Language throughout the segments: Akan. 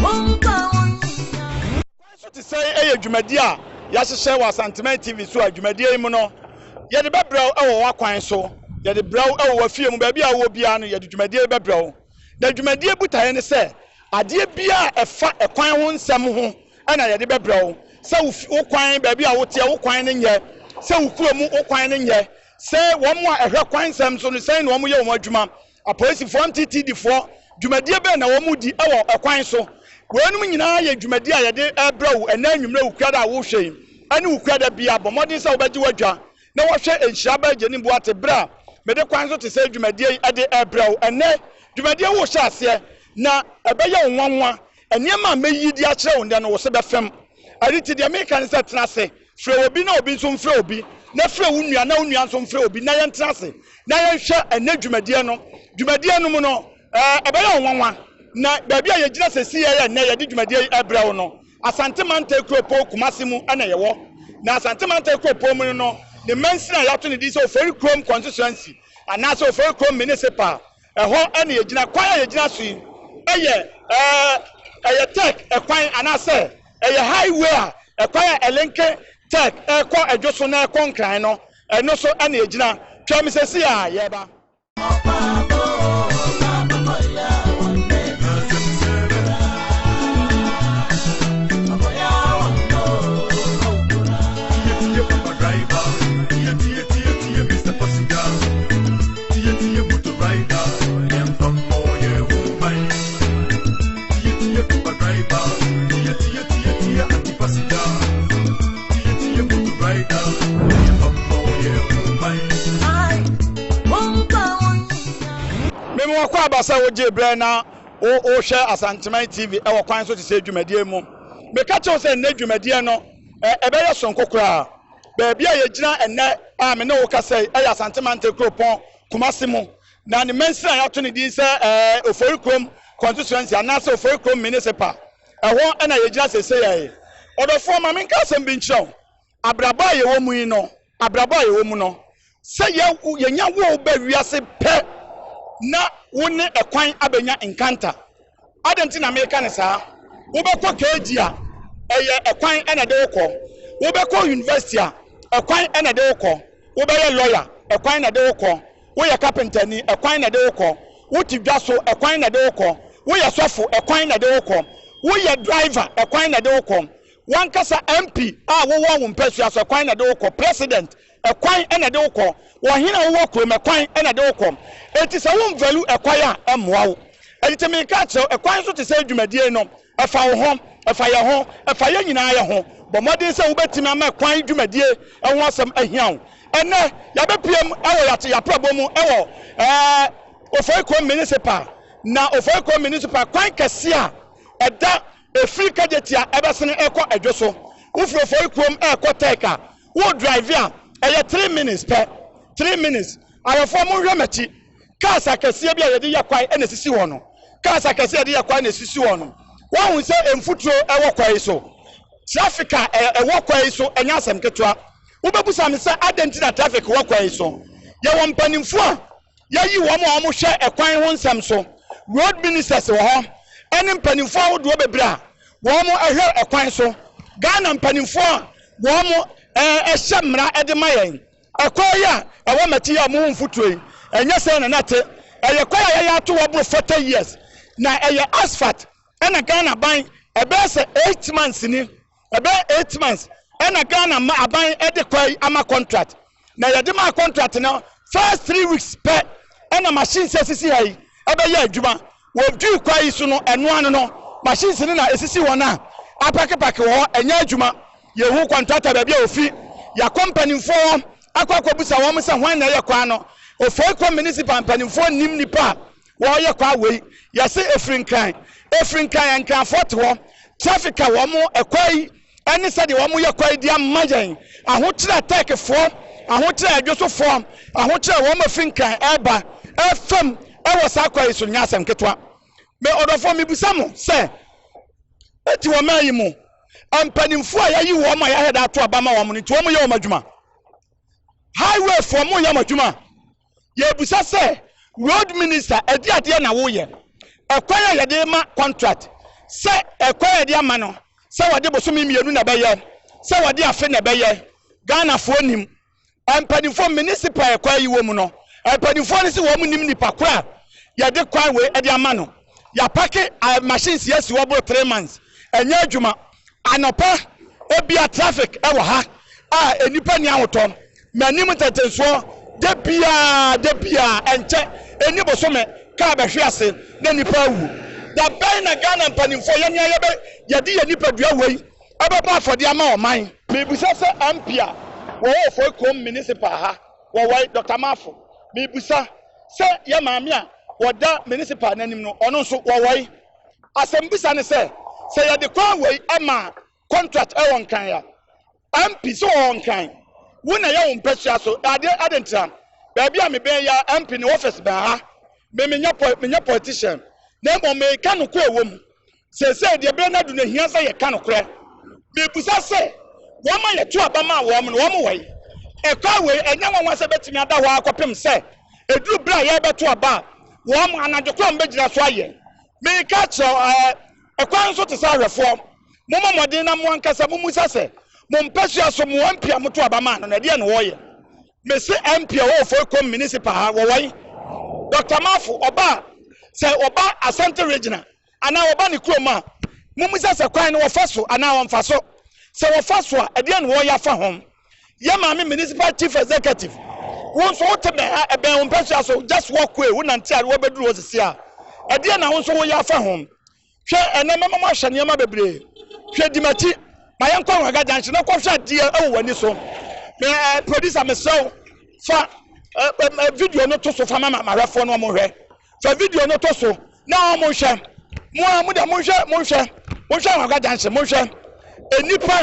Kwan so te sɛn yɛ dwumadie a yɛahyehyɛ wɔ Asanteman TV so a dwumadie yi mu no yɛde bɛbrɛ wo wɔ w'akwan so, yɛde brɛ wo wɔ w'afie mu, baabi a wowɔ biara no yɛde dwumadie yi bɛbrɛ wo. Na dwumadie botaeɛ ne sɛ adeɛ biara a ɛfa ɛkwan ho nsɛm ho na yɛde bɛbrɛ wo, sɛ wo fi wo kwan, baabi a woteɛ wo kwan no nyɛ, sɛ wo kuro mu wo kwan no nyɛ, sɛ wɔn a ɛhwɛ kwan nsɛm so no sɛn na wɔyɛ wɔn adwuma, Apolisifoɔ, MTTDfoɔ, dwumadie bɛn na wɔredi wɔ kwan so? Weinom nyinaa yɛ dwumadie a yɛde rebrɛ wo ɛnnɛ anwummerɛ wo kuada a worehwɛ yi ne wo kuada biara. Bɔ mmɔden sɛ wobɛgye w'adwa na woahwɛ Nhyira by Jenny Boate berɛ a mede kwan so te sɛ dwumadie yi de rebrɛ wo ɛnnɛ. Dwumadie worehyɛ aseɛ na ɛbɛyɛ wo nwanwa. Nneɛma a mɛyi de akyerɛ wo nnɛ no wo se bɛfem. Ɛno nti deɛ mereka ne sɛ tena ase Frɛ obi na obi nso mfrɛ obi, na frɛ wo nua na wo nua nso mfrɛ obi na yɛntena ase na yɛnhwɛ ɛnnɛ dwumadie no. Dwumadie no mu no, ɛbɛyɛ wo nwanwa na baabi a yɛgyina sesei a ɛyɛ nnɛ yɛde dwumadie yi ɛbrɛ wo no, Asante Mantae Kuropɔn Kumase mu na yɛwɔ. Na Asante Mantae Kuropɔn mu no, ne mansini a yɛato ne din sɛ Ofori Kurom Kɔnsesuansi anaasɛ Ofori Kurom Minisipal Ɛhɔ na yɛgyina. Kwan a yɛgyina so yi yɛ eh, ɛyɛ Turk kwan anaasɛ ɛyɛ highway a ɛkwan a ɛlenke Turk ɛrekɔ ɛdwo so na ɛrekɔ Nkran no, ɛno so na yɛgyina. Twɛn me seesei ara, yɛreba. Mema ɔkɔ aba sɛ wogye berɛ na wohwɛ Asanteman TV wɔ kwan so te sɛ dwumadie mu. Meka kyerɛ wo sɛ nnɛ dwumadie no ɛbɛyɛ sononko koraa. Baabi a yɛgyina ɛnnɛ a me ne wo kasa yi yɛ Asante Mantam kuropɔn Kumasi mu, na ne mansini a yɛato ne din sɛ Ofori Kurom Constituency anaasɛ Ofori Kurom Municipal, ɛhɔ na yɛgyina seesei ara yi. Ɔdɔfoɔ, ma menka asɛm bi nkyerɛ wo. Abrabɔ a yɛwɔ mu yi no, abrabɔ a yɛwɔ mu no, Sɛ yɛ yɛnya wo ba wiase pɛ na wo ne ɛkwan abɛnya nkanta. Adɛn nti na meka no saa? Wobɛkɔ KG a, ɛyɛ ɛkwan na ɛde wo kɔ. Wobɛkɔ university a, ɛkwan na ɛde wo kɔ. Wobɛyɛ lawyer, ɛkwan na ɛde wo kɔ. Woyɛ kapentani, ɛkwan na ɛde wo kɔ. Wote dwa so, ɛkwan na ɛde wo kɔ. Woyɛ sɔfo, ɛkwan na ɛde wo kɔ. Woyɛ driver, ɛkwan na ɛde wo kɔ. W'ankasa MP a wowɔ wo mpasua so, ɛkwan na ɛde wo kɔ. President, Ɛkwan na ɛde wo kɔ. Wɔ hen a wowɔ kurom, ɛkwan na ɛde wo kɔ. Enti sɛ wo nvalu ɛkwan a, ɛmmoa wo. Ɛnti mereka akyerɛ wo, ɛkwan nso te sɛ dwumadie no. Ɛfa wo ho. Ɛfa yɛn ho. Ɛfa yɛn nyinaa yɛ ho. Bɔ mmɔden sɛ wobɛtumi ama ɛkwan dwumadie ho asɛm ahia wo. Ɛnnɛ, yɛabɛpuem wɔ yɛate yɛaprɛbɔ mu wɔ ɛɛ Ofori kurom Minisipal. Na Ofori kurom Minisipal kwan kɛseɛ a ɛda ɛfiri Kagyetia ɛbɛsene ɛkɔ Adwo so. Wofiri Ofori kurom ɛɛkɔ Tɛɛka. Wo drive a ɛyɛ three minutes pɛ, three minutes, ayɔfoɔ mo nhwɛ makyi, cars akɛseɛ bi a yɛde yɛ kwan na ɛsisi hɔ no, cars akɛseɛ a yɛde yɛ kwan na ɛsisi hɔ no, woahu sɛ mfuturo wɔ kwan yi so, traffic a ɛwɔ kwan yi so nyɛ asɛm ketewa, wobɛbusa me sɛ adɛn nti na traffic wɔ kwan yi so, yɛwɔ mpanimfoɔ a. Yɛayi wɔn a wɔhwɛ kwan ho nsɛm so, road ministers wɔ hɔ, ne mpanimfoɔ ahodoɔ bebree a wɔhwɛ kwan so, Ghana mpanimfoɔ a wɔhyɛ mmara de ma yɛn. Ɛkwan yi a ɛwɔ Mati yi a wɔwɔ mfuturo yi, ɛnyɛ sɛn na na ɛte. Ɛyɛ kwan a yɛayɛ ato hɔ aboro 40 years, na ɛyɛ asphalt na Ghana ban bɛyɛ sɛ eight months ni. Ɛbɛyɛ eight months ɛna Ghana aban de kɔ yi ama contract na yɛde maa contract no first three weeks pɛ ɛna machines asisi ha yi ɛbɛyɛ adwuma wɔ dwui kwa yi so no ɛno ano no machines no na esisi wɔn a apakepake wɔ hɔ ɛnyɛ adwuma yɛhu contractor baabi a ofi yɛakɔ mpanimfoɔ hɔ akɔ akɔbusa wɔn sɛ hwan na ɛyɛ kwan no ofei kɔ municipal mpanimfoɔ nim nipa a Wɔyɛ kwa wei yɛse ɛfiri nkran ɛfiri nkran nkranfoɔ te hɔ traffic a wɔn ɛkwa yi ɛne sɛdeɛ wɔn yɛ kwa yi de ama yɛn ahokyerɛ a Turkey foɔ ahokyerɛ a ɛdwoso foɔ ahokyerɛ a wɔn ɛfiri nkran ɛba ɛfam ɛwɔ saa kwa yi so nyɛ asɛm ketewa me ɔdɔfoɔ mebisa mo sɛ ɛti wɔn ayi mo mpanimfoɔ a yɛayi wɔn a yɛahɛda ato aba ma wɔn no nti wɔn yɛ wɔn adwuma highway foɔ mo yɛ wɔn adwuma Yɛrebisa sɛ, Road minister, ɛde adeɛ na woyɛ? Ɛkwan a yɛde rema contract sɛ ɛkwan a yɛde ama no sɛ wɔde bosome mmienu na ɛbɛyɛ, sɛ wɔde afe na ɛbɛyɛ, Ghanafoɔ nim. Mpanimfoɔ, municipal a ɛkwan yi wɔ mu no, mpanimfoɔ no se wɔn nim nipa korɔ a yɛde kwan wei de ama no. Yɛapake machines yi asi hɔ boro three months, ɛnyɛ adwuma. Anɔpa ebia traffic wɔ ha a nnipa nni ahotɔ, m'anim ntɛntɛnsoɔ, da biara da biara ɛnkyɛ ɛnni bosome kaa bɛhwe ase na nnipa awu. Da bɛn na Ghana mpanimfoɔ yɛn a yɛbɛ yɛde yɛn nipadua wei bɛbɔ afɔdeɛ ama ɔman? Mebisa sɛ MP a wɔwɔ Ofoi Kurom Municipal ha wɔ wɔ yi, Doctor Marfo, mebisa sɛ yɛn maame a wɔda Municipal no anim no ɔno nso wɔ wɔ yi? Asɛmbisa ne sɛ, sɛ yɛde kwan wei ma kɔntrat ɛwɔ Nkran a, MP so ɔwɔ Nkran? Wo na yɛ wo mpɛsua so adeɛ adɛn nti na baabi a mebɛn yi ara MP ne office bɛn ha? Me menyɛ pɔ menyɛ politician na mmom meka nokorɛ wɔ mu. Seesei deɛ berɛ no adu no ɛhia sɛ yɛka nokorɛ. Mebusa sɛ, wɔn a yɛto aba maa wɔn no wɔn wɔ he? Ɛkwan wei ɛnyɛ nwanwa sɛ ɛbɛtumi ada hɔ ara kɔpem sɛ ɛduru berɛ a yɛrebɛto aba a Wɔn, anadwo kwan bɛgyina so ayɛ. Mereka akyerɛ wo, ɛɛ, ɛkwan nso te sɛ awɛfoɔ. Mommɔ mmɔden na mo ankasa mommisa sɛ, Mo mpasua so, mo MP a moto aba maa no no, ɛdeɛn na ɔreyɛ? Mese MP a ɔwɔ Ofoekom Municipal ha, wɔwɔ he? Doctor Mafo, ɔba a, sɛ ɔba Asante Regional. anaa wɔba ne kurom a, mummisa sɛ kwan no wɔfa so anaa wɔmfa so. Sɛ wɔfa so a, ɛdeɛn na wɔreyɛ afa ho? Yɛ Maame Municipal Chief Executive, wo nso wote bɛn ha? Ɛbɛn wo mpasua so? Just walk way, wonante a woabɛduru hɔ seesei a, ɛdeɛn na wo nso woyɛ afa ho? Hwɛ, ɛnnɛ mɛma moahwɛ nneɛma bebree. Hwɛ, di m'akyi. Ma yɛnkɔ Ruaga Junction na kɔhwɛ adeɛ wɔ w'ani so. Me, eh, producer, mesrɛ wo, fa eh, eh, video no to so fa ma ma- mahwɛfoɔ no wɔhwɛ. Fa video no to so na wɔnhwɛ. Mo ara mo deɛ monhwɛ monhwɛ monhwɛ Anhwaga junction monhwɛ. Nnipa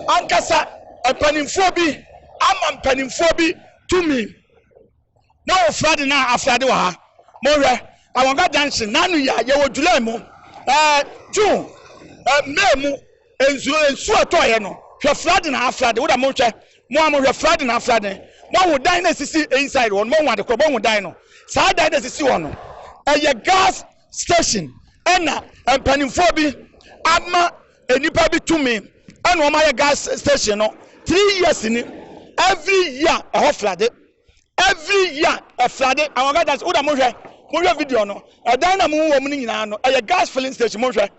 ankasa mpanimfoɔ bi ama mpanimfoɔ bi tumi na wɔfira de na afira de wɔ ha. Monhwɛ Anhwaga junction nanu yi a yɛwɔ July mu ɛɛ June ɛɛ May mu Nsu nsu a ɛtɔeɛ no hwɛ flooding aa flooding woda mo nhwɛ mo a mo hwɛ flooding aa flooding moahu dan no a ɛsisi inside hɔ no moahu ade korɔ moahu dan no saa dan no a ɛsisi hɔ no ɛyɛ gas station ɛna mpanimfoɔ bi ama nnipa bi tumi ɛna wɔn ayɛ gas station no three years ni every year ɛhɔ flooding every year ɛflooding àwọn gas station woda mo hwɛ mo hwɛ video no ɛdan na mo wɔ mu no nyinaa no ɛyɛ gas filling station mo hwɛ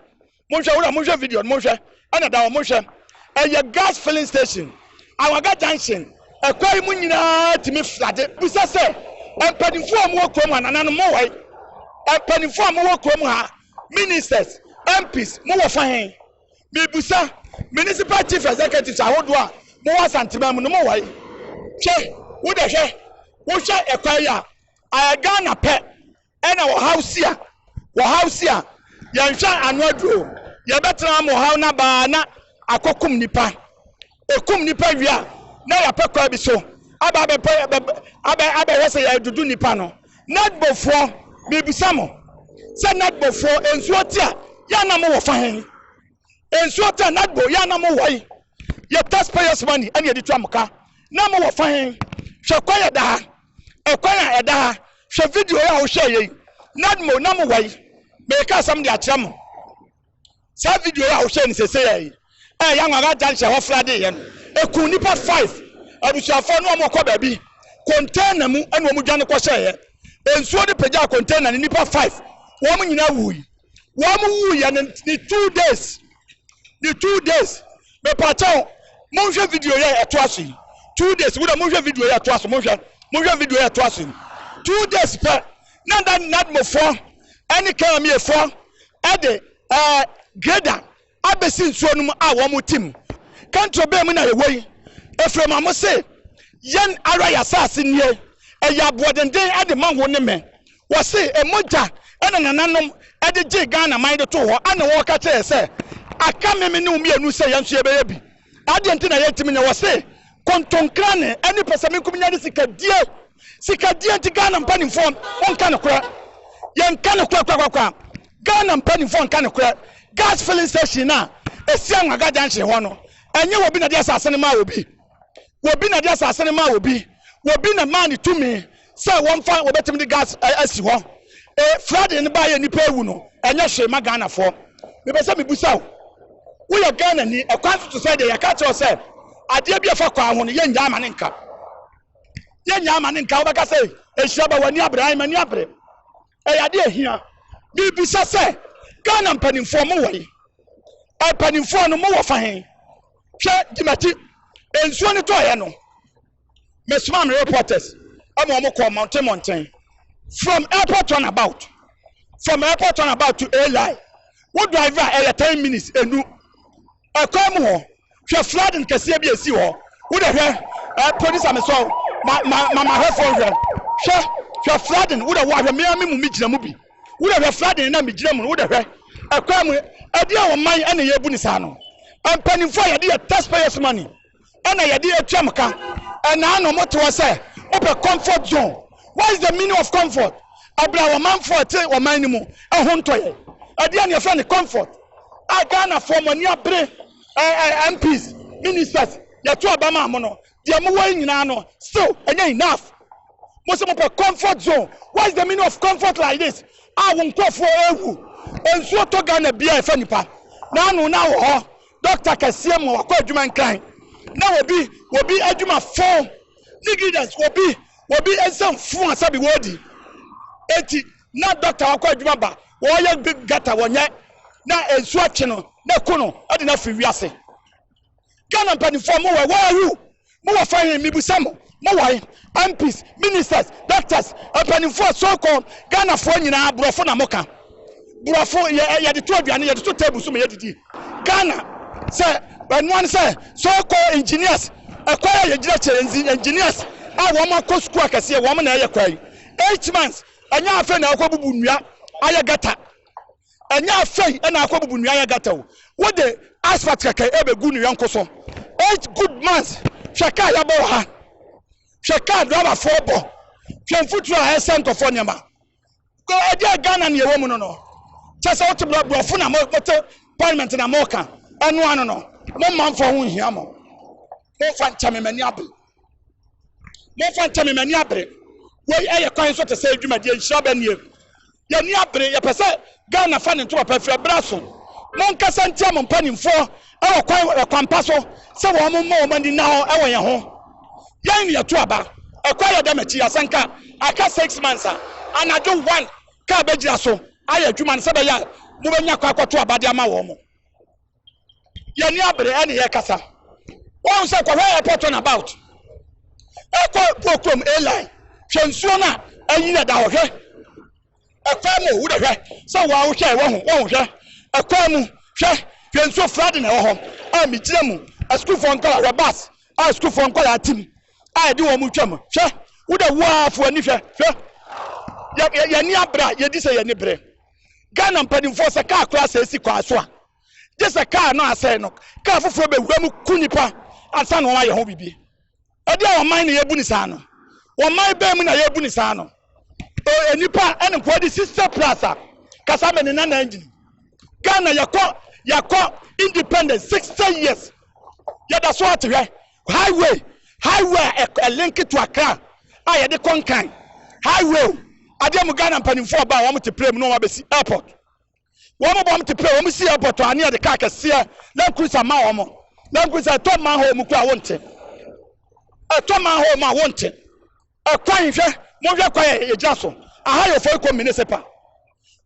monhwɛ wura monhwɛ video no monhwɛ ɛna da hɔ monhwɛ ɛyɛ gas filling station awaga junction ɛkwa yi mu nyinaa tumi flade bisa sɛ mpanimfoɔ a mowɔ kurom ha nananom mowai mpanimfoɔ a mowɔ kurom ha ministers mps mowɔ fa he mebusa municipal chief executives ahodoɔ a mowɔ asantema mu no mowai hwɛ wodɛ hwɛ wohwɛ ɛkwa yi a ayɛ ghana pɛ ɛna ɔhaw si a, wɔhaw si a, yɛnhwɛ ano aduro. Yɛbɛtena ama ɔhaw no aba ara na akɔkum nnipa. Ɛkum nnipa wie a, na yɛapɛ kwan bi so aba abɛpɛ abɛ abɛhwɛ sɛ yɛredodo nnipa no. Nadbofoɔ, mebisa mo sɛ Nadbofoɔ, nsuo te a, yɛ a na mowɔ fa he? Nsuo te a, Nadbo, yɛ a na mowɔ he? Yɛ taxpayers money ɛna yɛde tua mo ka. Na mowɔ fa he? Hwɛ kwan a ɛda ha. Ɔkwan a ɛda ha, Hwɛ video yi a wohwɛeɛ yi, Nadmo, na mowɔ yi, Mereka asɛm de akyerɛ mo. Saa video yi a wohwɛe no seesei yi, a ɛyɛ Anwaga Junction hɔ fra deeɛ no, ɛkuu nnipa five, abusuafoɔ no a wɔrekɔ baabi, container mu na wɔdwane kɔhyɛeɛ. Nsuo no pagyaa container no, nnipa five, wɔn nyinaa wuui. wɔn wu yɛ ne ne two days ne two days mepatɛw monhwɛ video yɛ ɛto aso yi two days wúdà monhwɛ video yɛ ɛto aso monhwɛ monhwɛ video yɛ ɛto aso yi two days pɛ na na nadmofoɔ ɛne kɛmɛmiefoɔ ɛde ɛɛ greda. Abɛsi nsuo no mu a wɔn tim. Kantoro bɛn mu na yɛwɔ yi? Efraim a mose, Yɛn ara yɛn asase nie, ɛyɛ aboɔdenden de ma wo ne me. Wɔse mogya na nananom de gyee Ghana man de too hɔ, ɛna wɔka kyerɛɛ yɛn sɛ, Aka me me ne wo mmienu sɛ yɛn nso yɛbɛyɛ bi. Adeɛ nti na yɛntumi nyɛ? Wɔse kontonkrane ne pɛsɛmenkomenya ne sikadie. Sikadie nti Ghana mpanimfoɔ nka nokorɛ. Yɛnka nokorɛ korakora. Ghana mpanimfoɔ nka nokorɛ. Gas filling station no a ɛsi Anwaga junction hɔ no, ɛnyɛ wɔbi na de asase no maa wɔbi. Wɔbi na de asase no maa wɔbi. Wɔbi na maa no tumi. sɛ wɔmfa wɔbɛtumi de gas asi hɔ e flooding no baayɛ nnipa awu no ɛnyɛ hwee ma Ghanafoɔ mepɛ sɛ mebusa wo woyɛ Ghana ni ɛkwan so to sɛ deɛ yɛka kyerɛ sɛ adeɛ bi ɛfa kwan ho no yɛnnya ama ne nka yɛnnya ama ne nka wobɛka sɛ ɛhyira ba w'ani abere ayi m'ani abere ɛyɛ adeɛ ɛhia mebisa sɛ Ghana mpanimfoɔ mo wɔ yi mpanimfoɔ no mo wɔ fa he hwɛ dimati nsuo no tɔɔyɛ no mesomaa me reporters ɛma wɔn kɔɔ mmɔnten mmɔnten from airport turn about from airport turn about to airline wo drive a ɛyɛ ten minutes enu ɛkwan mu hɔ hwɛ flooding kɛseɛ bi esi hɔ wo de hwɛ ɛ producer mi sɔn ma ma ma ma hwɛ fɔn hwɛ hwɛ hwɛ flooding wo de wo ahwɛ mmea mi mu mi gyina mu bi wo de hwɛ flooding na mi gyina mu wo de hwɛ ɛkwan mu ɛdi a wɔn man ɛna yɛ bu ne saa no mpanyinfoɔ a yɛde yɛ taxpayers money Ɛna yɛde atwam ka ɛnaa no ɔmo toɔ sɛ wopɛ comfort zone what is the meaning of comfort ɛbrɛ a ɔmanfoɔ ɛte ɔman no mu ɛho ntɔ yɛn ɛdeɛn na yɛfrɛ no comfort a Ghanafoɔ mo ani abere ɛɛ MPs ministers yɛto aba maa mo no deɛ mowɔ yi nyinaa no still ɛnyɛ enough mo sɛ mopɛ comfort zone what is the meaning of comfort like this a wo nkurɔfoɔ ɛɛwu nsuo tɔ Ghana biara ɛfa nipa n'ano na wɔ hɔ Dɔkta kɛseɛ ma wakɔ adwuma nkran na wɔbi wɔbi adwuma fo negligence wɔbi wɔbi nsɛm fo a sɛbi wɔdi eti na dɔkta wakɔ adwuma ba wɔyɛ gata wɔnyɛ na nsu akye no na ko no ɛde na firi wiase Ghana mpanimfoɔ mo wɛ where are you Mo wɔ fa he? Mebisa mo, mo wɔ he? MPs, Ministers, Doctors, mpaninfoɔ, so called Ghanafoɔ nyinaa borɔfo na moka? Borɔfo yɛ yɛde to aduane, yɛde to table so ma yɛdidi. Ghana sɛ ɛnoa no sɛ so called engineers, ɛkwan a yɛgyina kyɛ yɛ engineers a wɔn akɔ sukuu akɛseɛ, wɔn na ɛyɛ kwan. Eight months, ɛnyɛ afei na wɔkɔbubu nnua ayɛ gutter. Ɛnyɛ afei na akɔbubu nnua ayɛ gata o. Wode asphalt kɛkɛ rebɛgu ne yɔnko so. Eight good months! Hwɛ kaa yɛbɔ wɔ ha. Hwɛ kaa driverfoɔ bɔ. Hwɛ mfuturo a ɛresɛe nkurɔfoɔ nneɛma. Go, ɛdeɛn Ghana na yɛwɔ mu no no? Kyerɛ sɛ wote borɔ, borɔfo na mo, mote parliament na moreka. Ɛno ano no, mo manfoɔ ho nhia mo. Momfa nkyɛ me, m'ani abre. momfa nkyɛ me m'ani abere wei ɛyɛ kwan so te sɛ adwumadeɛ nhyira bɛ nie yɛni abere yɛpɛ sɛ Ghana fa ne ntoma pa firi ɛberɛ aso monkasa ntia mo mpanimfoɔ ɛwɔ kwan ɛkwampa so sɛ wɔn mmɔ wɔn ani na hɔ ɛwɔ yɛn ho yɛn ne yɛto aba ɛkɔ ayɛ dɛm akyi asɛnka aka six months a anadwo one kaa bɛgyina so ayɛ adwuma no sɛ bɛyɛ a mobɛnya kɔ akɔto aba de ama wɔn mo yɛni abere ɛne yɛ kasa wɔn sɛ kɔhwɛ airport turn about ɛkɔ bokurom airline hwɛ nsuo no a ɛyi na da hɔ hwɛ ɛkwan mu wo dɛ hwɛ sɛ wɔn ahohwɛ wɔn ho wɔn hwɛ ɛkwan mu hwɛ hwɛ nsuo flooding na ɛwɔ hɔ a megyina mu asukuufoɔ nkɔla hwɛ bus a asukuufoɔ nkɔla atim a ɛde wɔn mu twam hwɛ wo dɛ wo afoɔ ani hwɛ hwɛ yɛni abere a yɛdi sɛ yɛni bere Ghana mpanimfoɔ sɛ kaa koraa sɛe si kwan so a, gye sɛ kaa no a asɛe no, kaa foforɔ bɛwura mu ku nnipa ansa na wɔayɛ ho biribi. Ɛdeɛn ɔman na yɛbu no saa no? Ɔman bɛn mu na yɛbu no saa no? E, nnipa ɛne nkoa di sister plus a, kasa me ne Nana Engine. Ghana yɛkɔ yɛkɔ independence 60 years yɛda so ate hwɛ. Highway, Highway a ɛk ɛlenke to Accra a yɛde kɔ Nkan. Highway o, adeɛ mo Ghana mpaninfoɔ ba a wɔn te plane mu na wɔn abɛsi airport. Wɔn ba wɔn te plane, wɔn si airport a ne yɛde car kɛseɛ, land cruiser ma wɔn. Land cruiser ɛtɔ manhole mu koraa wonte. Ɛtɔ manhole mu a wonte. Ɛkwan hwɛ, monhwɛ kwan a yɛgyina so. Aha yɛ Ofoiko municipal.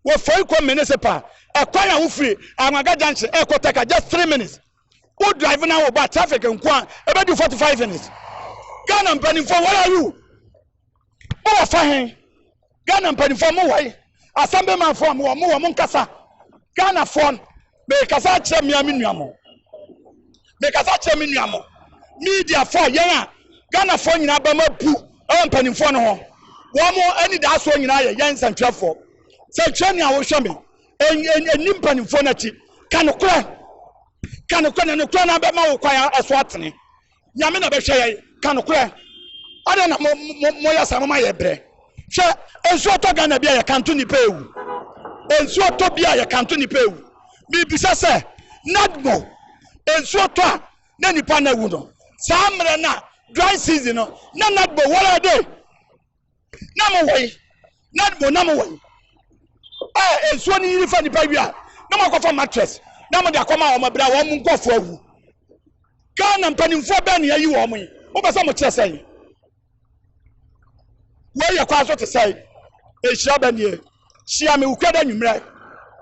Ofoiko municipal. Ɛkwan a wofiri Anwaga junction ɛrekɔ Tɛka just three minutes. wo drive na wo ba traffic nko a ɛbɛdu 45 minutes ghana mpanimfoɔ where are you mowɔ fa he ghana mpanimfoɔ mowɔ he asɛm bi manfoɔ mowɔ mowɔ mo nkasa ghanafoɔ mekasa akyerɛ mmea me nua mo mekasa akyerɛ me nua mo mediafoɔ a yɛn a ghanafoɔ nyinaa bɛma bu ɛwɔ mpanimfoɔ no ho wɔn mo anidasoɔ nyinaa yɛ yɛn nsɛntwerɛfoɔ sɛ twɛ nea wohwɛ me ɛni mpanimfoɔ no akyi ka nokorɛ ka nokorɛ na nokorɛ no abɛma wo kwan ɛso atene nyame na bɛhwɛ yɛ ka nokorɛ adɛn na moyɛ saa moma yɛ berɛ hwɛ nsuo tɔ ghana bi a yɛkanto nnipa ɛwu nsuo tɔ bi a yɛkanto nnipa ɛwu mebisa sɛ nadmo nsuo tɔ a na nnipa no awu no saa mmerɛ no a dry season no na nadmo wɔrɛ de na mo wɔn na mo nam wɔn a nsuo no yiri fa nipa wie a na mo akɔfa mattress na mo de akɔma wɔn abira wɔn mo nkɔfo awu ghana mpanimfoɔ bɛn na yɛyi wɔn yi mo bɛ sɛ mo kyerɛ sɛn wei yɛ kwan so te sɛn ehyia bɛ nie hyia mi wukura dɛ nwummerɛ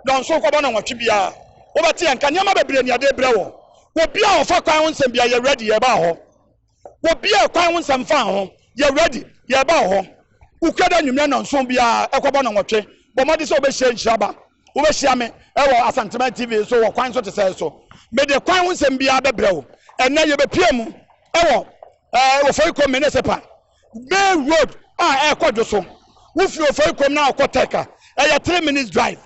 dɔnso kɔbɔ na wɔtwe biara wɔbɛte yɛn nka nneɛma bebree ni adeɛ brɛ wɔn obi a ɔfa kwan ho nsɛm biara yɛ ready yɛ ba hɔ. obiaa kwan ho nsɛm faa ho yɛ ready yɛɛba wɔ hɔ wokura dɛ anwummerɛ nɔnson biaa ɛkɔbɔ nɔnwɔtwe bɔ mmɔden sɛ wobɛhyia nhyira ba wobɛhyia me ɛwɔ Asanteman TV so wɔ kwan so te sɛɛ so mede kwan ho nsɛm biaa bɛbrɛ wo ɛnɛ yɛbɛpia mu ɛwɔ ɛɛ ofori kom menesepa main road a ɛkɔ dwo so wofiri ofori kom na ɔkɔ tɛka ɛyɛ three minutes drive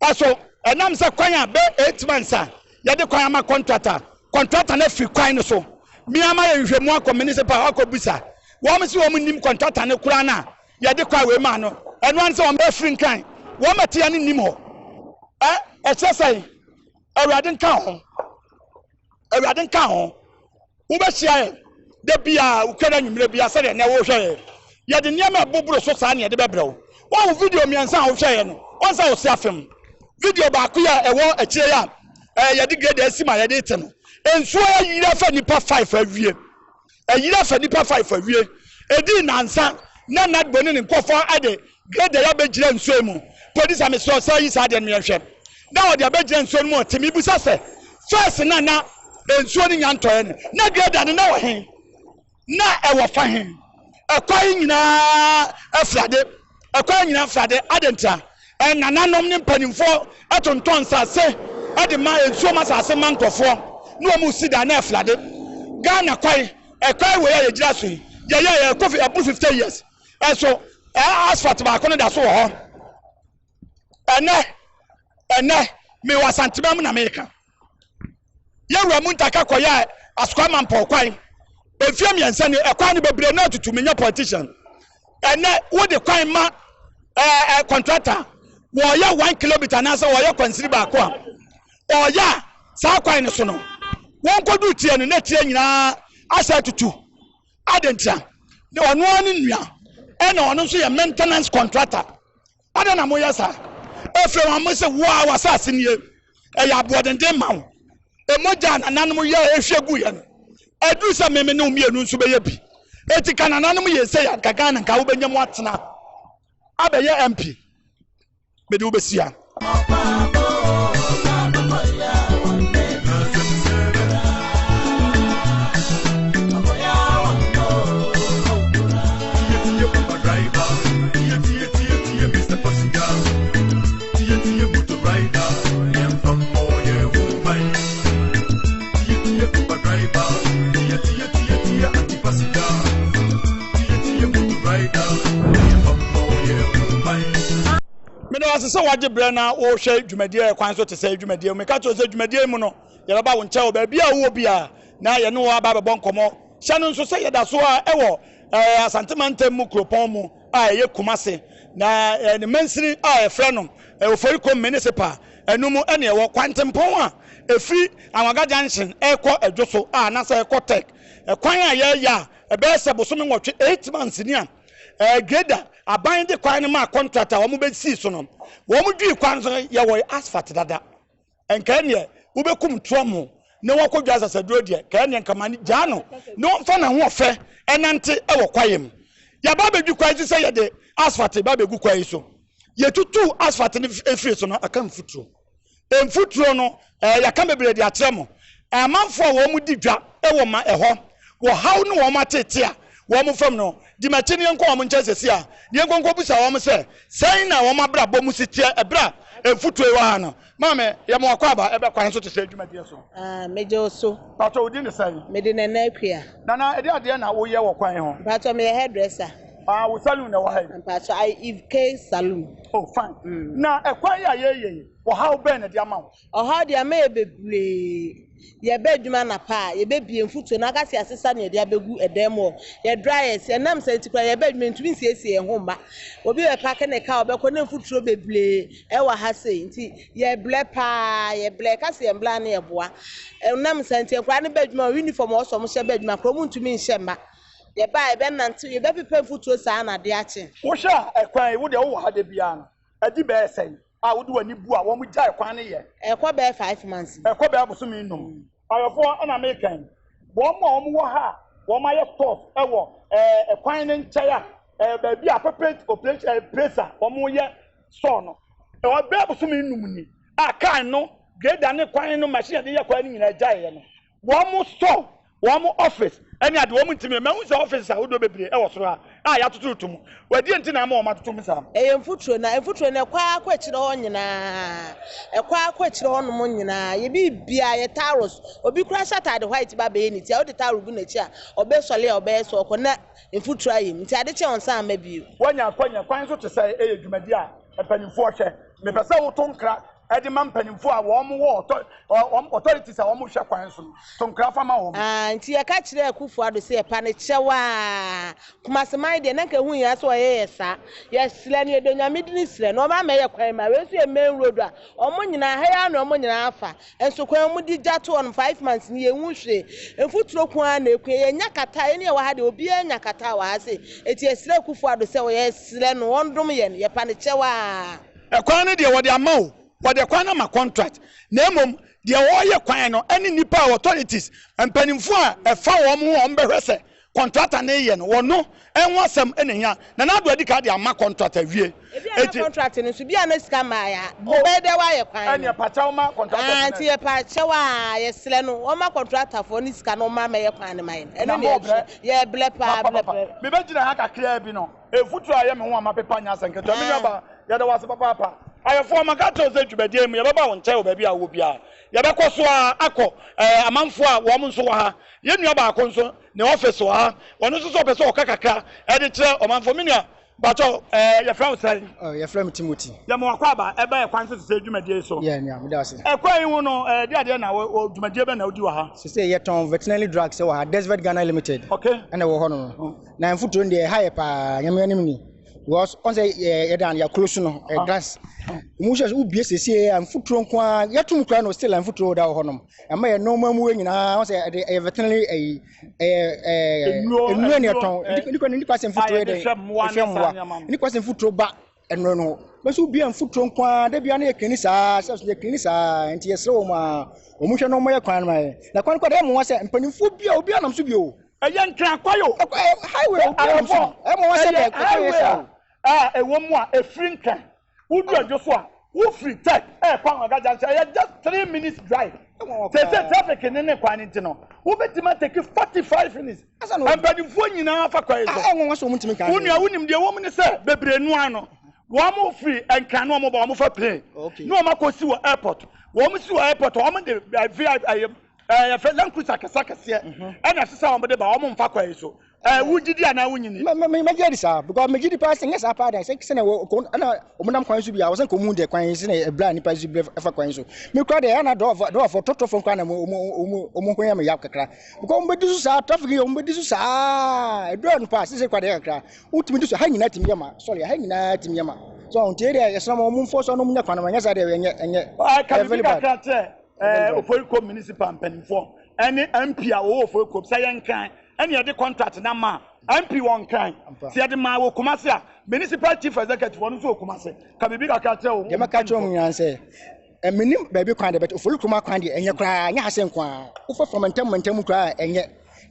Ɔso ɛnam sɛ kwan a bɛ eight months a yɛde kwan ama kɔntrat a kɔntrata no afiri kwan no so me ama yɛ nhwehwɛmu akɔ minisipal hɔ akɔ bisa wɔn se wɔn nnim kɔntrata no koraa no a yɛde kwan wei maa no ɛno ane sɛ wɔn bɛ afiri nkran wɔn ɛteɛ no nnim hɔ ɛ ɛkyerɛ sɛn awurade nka ho. Awurade nka ho. Wobɛhyia yɛn da biara, wotwa no anwummerɛ biara sɛdeɛ nnɛ worehwɛ yɛn. Yɛde nneɛma a ɛboboro so saa na yɛde bɛbrɛ wo. Woahu video mmiɛnsa a wohwɛɛ yɛn no? Wɔn nsa a wɔsi afem. Video baako yi a ɛwɔ akyire yi a yɛde grader asi ma yɛde rete no, nsuo ayiri afa nnipa five awie. Ɛyerɛ fa nnipa five awie. Ɛdii nnansa na Nadbo ne ne nkurɔfoɔ de grader abɛgyina nsuo mu. Polisi a mesrɛ wo sɛ yi saa adeɛ no ma yɛnhwɛ. Na wɔde abɛgyina nsuo no mu ɔte. Mebisa sɛ, First na na nsuo no nnya ntɔeɛ no, na grader no na wɔ he? Na ɛwɔ fa he? Ɛkwan nyinaa afiri ade. Ɛkwan nyinaa fra de, adɛn ntia? Ɛnananom ne mpaninfoɔ tontɔn nsaase de ma nsuom asaase ma nkorɔfoɔ ne wɔn resi dan na ɛfra de. Ghana kwae, ɛkwae wei a yɛgyina so yi, yɛyɛɛyɛ ɛkɔ fi aboro fifty years nso asphalt baako no da so wɔ hɔ ɛnnɛ. Ɛnnɛ, mewɔ Asantemam na mereka. yɛwura mu ntaka kɔyɛ asoka ma mpɔw kwan mfie mmiɛnsa ni ɛkwan no bebree na atutu menya politician ɛnɛ wode kwan ma ɛɛ kɔntrata wɔyɛ one kilometer anaasɛ wɔyɛ kwansiri baako a ɔyɛ a saa kwan no so no wɔnkɔdu tie no na tie nyinaa asɛ atutu adentia na ɔno ara ne nua ɛna ɔno nso yɛ maintenance contractor Adɛn na moyɛ saa? Efraim ammɔ se, Wo ara w'asase nie, ɛyɛ aboɔdenden ma wo. Mogya a nananom yɛɛ ehwie guiɛ no, aduru sɛ me me ne wo mmienu nso bɛyɛ bi. Enti ka nananom yɛɛ sei a, anka Ghana nka wobɛnya mu atena abɛyɛ MP. Mede wo bɛsia. meda wase sɛ wagye berɛ na wohwɛ dwumadie kwan so te sɛ dwumadie mu meka kyerɛ sɛ dwumadie mu no yɛbɛba wo nkyɛn wɔ baabi a wowɔ bi a na yɛne wɔ aba bɛbɔ nkɔmmɔ hyɛ no nso sɛ yɛda so a ɛwɔ asante mantam mu kuropɔn mu a ɛyɛ Kumase, na ne mansini a wɔfrɛ no Oforikrom Municipal no mu na ɛwɔ. Kwantempɔn a ɛfiri Anwaga Junction rekɔ Adwo so a anaasɛ ɛrekɔ Tech, kwan a yɛreyɛ a ɛbɛyɛ sɛ bosome nwɔtwe, eight months, ni a Grader aban de kwan no maa contract a wɔbɛsii so no, wɔdwiri kwan no so yɛ wɔn asphalt dada. nka ɛneɛ wobɛkum toamo na wakɔ dwa asasaduro deɛ, nka ɛneɛ nka mane gyaa no na ɔmfa n'ahoɔfɛ ɛnante ɛwɔ kwaeɛ mu. Yɛaba abɛdwi kwaeɛ so sɛ yɛde asphalt ba abɛgu kwaeɛ so. Yɛtutuu asphalt no ɛfiri so no, aka mfuturo. Mfuturo no, ɛɛ yɛaka bebree de akyerɛ mo. Amanfoɔ a wɔn di dwa ɛwɔ ma ɛhɔ, wɔ haw ne wɔn atete a wɔn fam no, di m'akyi ne yɛnkɔ wɔn nkyɛn sɛsi a, ne yɛnkɔ nkɔbusa wɔn sɛ, sɛn na wɔn abrabɔ mu si teɛ ɛberɛ a mfuturo wɔ ha no. Maame, yɛ mo akwaaba, ɛbɛ kwan so te sɛ dwumadie so. Ah, megye wo so. Mpatsɔ, wo din ne sɛn? Me de Nana Akua. Nana, ɛdeɛ adeɛ na wo yɛ wɔ kwan ho? Mpatsɔ, me yɛ hairdresser. Ah, wo saloon na ɛwɔ ha yi? Mpatsɔ, I Eve K saloon. Oh, fine. Mm. Na ɛkwan yi a yɛreyɛ yi, ɔhaw bɛn na ɛde ama wo? Ɔhaw de ama yɛ bebree. Yɛba adwuma anapa a, yebebue mfuturo no, akasi asesa nea yɛde abegu dan mu hɔ, yɛ dryers. Ɛnam saa nti koraa, yɛba adwuma a, yentumi nsiesie yɛn ho mma. Obi bɛpaake ne car a, ɔbɛkɔ, na mfuturo bebree wɔ ha sei. Nti, yɛbrɛ paa, yɛbrɛ. Yɛka sɛ yɛmmrɛ a, na yɛboa. Ɛnam saa nti, nkwadaa no ba adwuma a, uniform a ɛwɔ so a wɔhyɛ ba adwuma koraa, wɔntumi nhyɛ mma. Yɛba a, yɛbɛnantew, yɛbɛpepa mfuturo saa ara na ade akye. Wohwɛ a, ɛkwan yi, wo deɛ wowɔ ha da biara no, adi bɛyɛ sɛn? a wode w'ani bu a wɔgyae kwan no yɛ. Ɛkɔ bɛyɛ five months bi. Ɛkɔ bɛyɛ abosome nnum. Ayɔfoɔ ɛna mekan. Wɔn a wɔn wɔ ha a wɔn ayɛ course ɛwɔ ɛɛ kwan no nkyɛn a ɛɛ baabi a appropriate operation ɛɛ place a wɔn yɛ sɔɔ no. Ɛwɔ bɛyɛ abosome nnum ni a car no grader ne kwan no machine a yɛde yɛ kwan no nyinaa gyaeɛ no. Wɔn store, wɔn office ne ade, wɔn ntumi. Mahu sɛ offices ahodoɔ bebree wɔ soro ha a yɛatoto reto mu. Ɛdeɛn nti na ama wɔn atoto mu saa? Ɛyɛ mfuturo, na mfuturo no ɛkɔ ara kɔ akyire hɔ nyinaa, ɛkɔ ara kɔ akyire hɔ nom nyinaa. Yɛ biribiara, yɛ towels. Obi koraa hyɛ ataade white ba abɛyɛ ne ti a, wode towel gu n'akyi a, ɔbɛsɔre a ɔbɛyɛ sɛ ɔrekɔ na mfuturo ayɛ mu. Nti ade kye a ɔnsan mma bio. Woanya akwanya, kwan so te sɛn? Ɛyɛ dwumadie a Mpanimfoɔ hwɛ. Mepɛ sɛ wo to nkra de ma mpanimfoɔ a wɔn wɔ ɔtɔ wɔn authorities a wɔn hwɛ kwan so no. To nkra fa ma wɔn. Aah nti yɛka kyerɛɛ Akuffo Addo sɛ yɛpa no kyɛw aah Kumasi man deɛ na nka ɛho nhia sɛ ɔyɛ yɛ saa yɛsrɛ no yɛdɔ Nyame dini srɛ no ɔmma mɛyɛ kwan ma wei nso yɛ main road a wɔn nyinaa ha yi ara na wɔn nyinaa afa Nso kwan a wɔde gya to hɔ no five months ni yɛnhu hwee. Mfuturo nko ara na ɛkua. Yɛnnya kata. Yɛn yɛwɔ ha deɛ obiara nya kata wɔ ha sei. Enti yɛsrɛ Akuffo Addo sɛ yɛsrɛ no ɔndom yɛn. Yɛpa no kyɛw ara. Ɛkwan no deɛ wɔde ama o. Wɔde ɛkwan no ama contract. Na mmom deɛ ɔreyɛ kwan no ɛne nnipa a authorities, mpaninfoɔ a ɛfa wɔn ho a wɔbɛhwɛ sɛ Kɔntrata no reyɛ no, wɔno ɛho asɛm na ehia. Nana Addo adi kan de ama kɔntrat awie. Ebia na kɔntrat no nso, bia na sika mmaeɛ a, ɔbɛyɛ dɛ w'ayɛ kwan no. Ɛne yɛpa kyɛw ma kɔntratafoɔ no. Aah, nti yɛpa kyɛw a, yɛsrɛ no ɔma kɔntratafoɔ no sika na ɔma mɛyɛ kwan no ma yɛn. Ɛno na yɛhwɛ. Yɛbrɛ paa, brɛ paa. Mebɛgyina ha kakraa bi no, mfuturo a ɛyɛ me ho a mapepa nyɛ asɛm ketewa. Me nuabaa, yɛda wo ase papaapa. Ayɛfoɔ, maka akyerɛ wo sɛ dwumadie yi mu, yɛbɛba wo nkyɛn wɔ baabi a wowɔ biara. Yɛbɛkɔ so ara akɔ ɛɛ amanfoɔ a wɔn nso wɔ ha. Yɛn nua baako nso ne office wɔ ha, ɔno nso sɛ ɔpɛ sɛ ɔka kakra ɛde kyerɛ ɔmanfoɔ. Me nua, bakyɛ wo, ɛɛ yɛfrɛ wo sɛn? Oh, yɛfrɛ me Timothy. Yɛma w'akwaaba ɛba yɛn kwan so sesei dwumadie yi so. Yeah, nua, meda wo ase. Ɛkwan yi ho no, ɛɛ deɛ adeɛ na wɔ, dwumadie bɛn na wodi wɔ ha? Sesei yɛtɔn veterinary drugs ɛwɔ ha, Desvet Ghana Limited. Okay. Ɛna ɛwɔ hɔ nom. Oh. Na yɛn mfuturo no deɛ ɛha yɛ paa, nyame anim ni. Because ɔn sɛ yɛ yɛ dan yɛ close no, ɛ ah. glass. Ɔmo hyɛ so wobie sesei a mfuturo nko ara, yɛto mu kura no still a mfuturo da wɔ hɔ nom. Ɛma yɛ nneɛma mu yɛ nyinaa wɔn sɛ ɛde ɛyɛ veterinary ɛyi ɛyɛ ɛɛ nnuro ne ɛtɔn nipa nipa sɛ nfuturo yɛ dɛ ɛhwɛ mmoa nipa sɛ nfuturo ba ɛno no bɛso bia nfuturo nko ara de bia ne yɛ klini saa sɛ yɛ klini saa nti yɛ srɛ wɔn a wɔn hwɛ na wɔn yɛ kwan ma yɛ na kwan kɔ dɛ ɛmo wa sɛ mpanyinfoɔ bia obi anam so bio. ɛyɛ ntrankwa yo highway obi anam so ɛmo wa sɛ dɛ ɛyɛ highway a ɛwɔ mu a efiri ntwɛn. Wodu adwo so a, wofiri Tech rekɔ Anwaga Junction a, ɛyɛ just three minutes drive. Seesei traffic ne ne kwan no nti no, wobɛtumi atake forty five minutes. Mpanimfoɔ nyinaa fa kwan yi so. Wo nua, wonim deɛ ɛwɔ mu ne sɛ, bebree no ara no, wɔfiri Nkran na wɔba, wɔfa plane na wɔakɔsi wɔ airport. Wɔsi wɔ airport a, wɔde vip, ɛɛ, yɛfrɛ Land Cruiser akɛseakɛseɛ ɛna ɛsɛ sɛ wɔde ba, wɔmfa kwan yi so. Ɛ eh, wogye di anaa wonyi ni? Mɛgye adi saa because megye di paa sɛ nyɛ saa paa dan sɛ sɛnea ɛna wɔnam kwan so bi a wɔsɛ nka wɔhu deɛ kwan sɛnea ɛberɛ a nnipa nso bi ɛfa kwan so mekura deɛ ɛna dɔɔfoɔ tɔtɔfoɔ nkora na wɔn ho yɛ me yaw kakra because wɔbɛdi so saa traffic yɛ wɔbɛdi so saa ɛdurɔ no paa sese kora deɛ kakra wotumi di so ha nyinaa tumi yɛ ma sorry ha nyinaa tumi yɛ ma so nti deɛ yɛsrɛ ma wɔn mfoɔ so nom nyɛ kwan ma nyɛ saa deɛ ɛnyɛ ɛnyɛ ɛfɛ liba kakra kyerɛ ɛɛ ofori kom municipal mpanimfoɔ ɛne mp a wɔwɔ ofori kom sɛ yɛn kan ɛna yɛde contract na ma MP wɔ Nkran sɛ yɛde maa wɔ Kumasi a municipal chief executive ɔno nso wɔ Kumasi ka biribi kakra kyerɛ wɔn. Deɛ mɛka kyerɛ wɔn nyinaa sɛ ɛmenim baabi kwan deɛ bɛtɛ ofori kuruma kwan deɛ ɛnyɛ koraa ɛnyɛ ha sɛ nko ara wofɛ fam ntɛm ntɛm koraa ɛnyɛ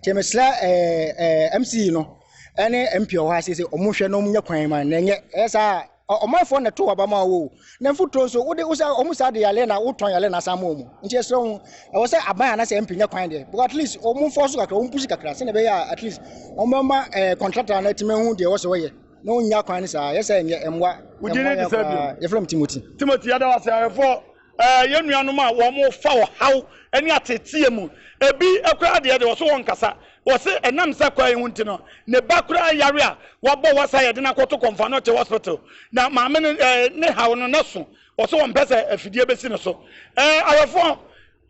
kyɛ mesrɛ ɛɛ ɛɛ MC no ɛne MP wɔ hɔ ase sɛ wɔn hwɛ na wɔn nyɛ kwan ma na ɛnyɛ ɛyɛ saa Ɔ ɔmanfoɔ na ɛto w'aba ma wo o, na mfuturo nso wode wo sɛ wɔn saa de yareɛ na wotɔn yareɛ na asan ma wɔn. Nti yɛsrɛ wo, ɛwɔ sɛ aban anaasɛ MP nya kwan deɛ, at least wɔn mfɔɔ so kakra, wɔn pushi kakra sɛdeɛ ɛbɛyɛ a at least wɔn bɛma ɛɛ contractor no atumi ahu deɛ ɛwɔ sɛ wɔyɛ na wɔnnya kwan no saa, yɛsɛ ɛnyɛ, ɛmmoa, ɛmmoa yɛn koraa. Yɛfrɛ me Timothy. Timothy, yɛda wo ase, awɛfoɔ. Ɛɛ, yɛn nuanom a wɔfa ɔhaw ne ateetee mu. Ebi koraa deɛ, deɛ wɔse wɔnkasa. Wɔse ɛnam saa kwan yi ho nti no, ne ba koraa yare a wɔabɔ wasa a yɛde no akɔto Kɔmfanote Hospital, na maame no ne haw no n'aso. Wɔse wɔmpɛ sɛ afidie bɛsi no so. Ɛɛ, awɛfoɔ,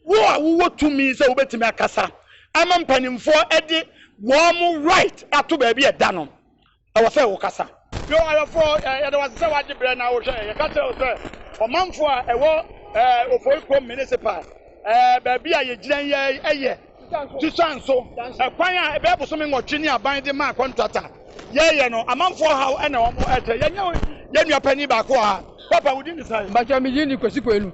wo a wowɔ tumi sɛ wobɛtumi akasa ama mpanimfoɔ de wɔn right ato baabi a ɛda no, Ɛwɔ sɛ wokasa. Yo, ayɔfo, yɛda wo ase sɛ woagye berɛ na wohwɛ yɛn. Yɛka kyerɛ wo sɛ, ɔmanfo a ɛwɔ Ofori Kurom Municipal, baabi a yɛgyina yi ara yɛ Tusan so kwan a ɛbɛyɛ bosome nwɔtwe ni aban de maa kɔntrata. Yɛreyɛ no, amanfo ɔhaw na wɔrekyerɛ. Yɛnyɛ yɛn nua panin baako wɔ ha. Papa, wo din ne sɛn? Mpakyɛw, me din ne Kwasi Kwenu.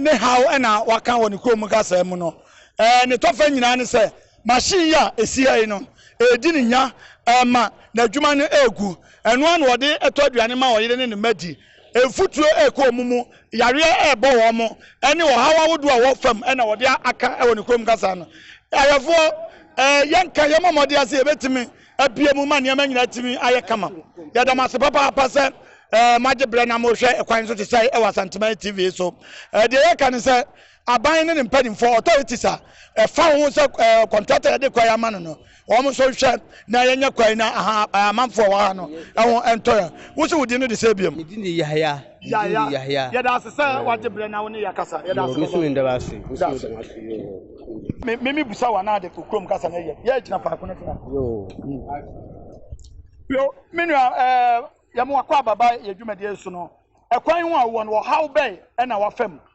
ne haw na wɔaka wɔ ne kurom mu kasaa mu no. Nea ɛtɔ fam nyinaa ne sɛ, machine yi a esi ha yi no, ɛredi ne nya ma n'adwuma no regu. Ɛno ara na ɔde tɔ aduane ma ɔyere ne ne mma di. Mfuturo rekɔ wɔn mu, yareɛ rebɔ wɔn, ne ɔhaw ahodoɔ a ɛwɔ fam na wɔde aka wɔ ne kurom kasaa no. Ayɛfoɔ, yɛnka, yɛmmɔ mmɔden sɛ yɛbɛtumi abue mu ma nneɛma nyinaa atumi ayɛ kama. Yɛda mo ase papaapa sɛ eh, moagye berɛ na mohwɛ kwan so te sɛe wɔ Asanteman TV so. Eh, deɛ yɛka ne sɛ aban ne ne mpanimfoɔ authorities a ɛfa ho sɛ eh, kɔntrata yɛde kwan ama no no wɔn nso nhwɛ na yɛnyɛ kwan na aha eh, amanfoɔ wɔ ha no ɛho ɛntɔ yɛn. Wo se wo din no de sɛ biam? Me din de Yahaya. Yahya, yɛda ase sɛ wagye berɛ na wo ne yɛ kasa. Yɛda ase papa. Me me me busa wa na de ko kurom kasa na yɛ. Yɛ gyina faako no tena. Yo, me nua eh yɛ mo akɔ ababa yɛ dwumadie so no. Ɛkwan ho a wɔ no ɔhaw bɛn na wafam?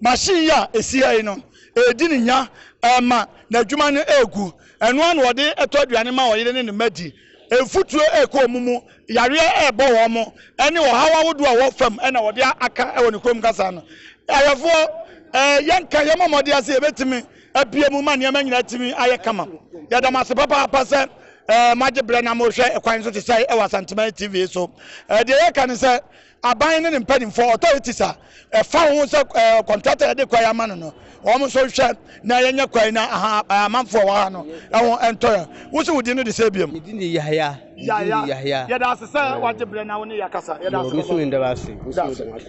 Machine yi a ɛsi ha yi no, ɛredi ne nya ɛrema n'adwuma no ɛregu. Ɛno ara na wɔde tɔ aduane ma ɔyere ne ne mma di. Mfuturo ɛrekɔ wɔn mu, yareɛ ɛrebɔ wɔn, ɛne ɔhaw ahodoɔ a ɛwɔ fam na wɔde aka wɔ ne kurom kasa no. Ayɛfoɔ, yɛnka, yɛmmɔ mmɔden sɛ yɛbɛtumi abue mu ma nneɛma nyinaa atumi ayɛ kama. Yɛda mo ase papaapa sɛ moagye berɛ na morehwɛ kwan so te sɛe wɔ Asanteman TV so. Deɛ yɛka ne sɛ, Aban ne ne mpanimfoɔ, authorities, a ɛfa ho sɛ ɛɛ contractor yɛde kwan ama no no, wɔn nso nhwɛ na yɛnyɛ kwan na aha amanfoɔ a ɛwɔ ha no ɛho ɛntɔ yɛn. Wo se wo din no de sɛn bio? Me din de Yahaya. Me din de Yahaya. Yɛda ase sɛ wagye berɛ na wo ne yɛn akasa. Yɛda ase papa. Yɛwɔ, me nso meda wo ase. Me nso meda wo ase.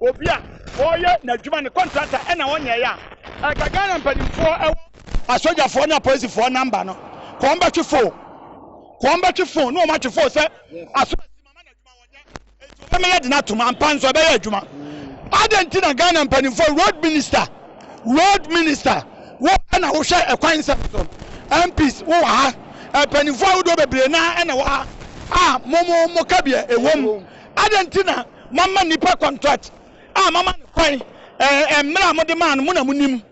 obi a ɔreyɛ n'adwuma ne kɔntrata ɛna ɔnyɛɛ a, ɛka Ghana mpanimfoɔ ɛwɔ asogyafoɔ ne apolisifoɔ namba no ka wɔn bɛtwe fon ka wɔn bɛtwe fon ne wɔn atwe fon sɛ aso asi mama n'adwuma wɔnyɛ eti wɔbɛma yɛde no atom ampa nso ɛbɛyɛ adwuma adɛn nti na Ghana mpanimfoɔ road minister road minister wo ɛna wohwɛ ɛkwan nsɛm so MPs wowɔ ha mpanimfoɔ ahodoɔ bebree naa ɛna wɔ ha a mo mo mo ka bia ɛwɔ mu adɛn nti na Moama nnipa contract a moama no kwan ɛɛ mmerɛ a mode maa no mo na monim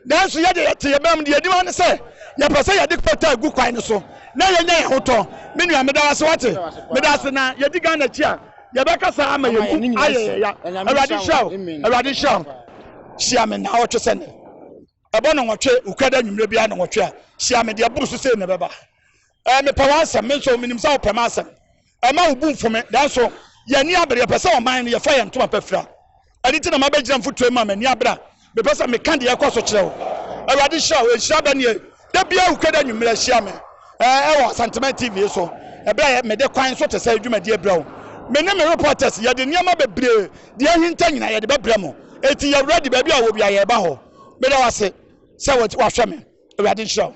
nanso yɛ deɛ yɛte yɛn bɛnam deɛ yɛnim ara ne sɛ yɛpɛ sɛ yɛde kɔtaa gu kwan no so na yɛnya yɛn ho tɔ me nua meda wo ase wate meda ase na yɛdi Ghana akyi a yɛbɛka saa ama yɛn mu ayɛ yɛn ya Awurade nhyira wo Awurade nhyira wo hyia me na ɔtwe sɛ ne ɛbɔ no nwɔtwe wokuada nwummerɛ biara no nwɔtwe a hyia me deɛ boro so sei na ɛbɛba Ɛɛ, mepɛ w'asɛm. Me nso, menim sɛ wopɛ m'asɛm. Mma wo bo mfu me. Nanso, yɛn ani abere. Yɛpɛ sɛ ɔman no, yɛfa yɛn ntoma pa fira. Ɛno nti na mabɛgyina mfuturo mu a m'ani abere a mepɛ sɛ meka deɛ ɛrekɔ so kyerɛ wo. Awurade hyira wo. Nhyira bɛn nie? Da biara Wukwada anwummere hyia me ɛɛ, wɔ Asanteman TV so, ɛberɛ a mede kwan so te sɛ dwumadie brɛ wo. Me ne me reporters, yɛde nneɛma bebree, deɛ ahinta nyinaa, yɛde bɛbrɛ mo. Enti yɛ ready, baabi a wɔ biara, yɛreba hɔ. Meda wo ase sɛ wahwɛ me. Awurade nhyira wo.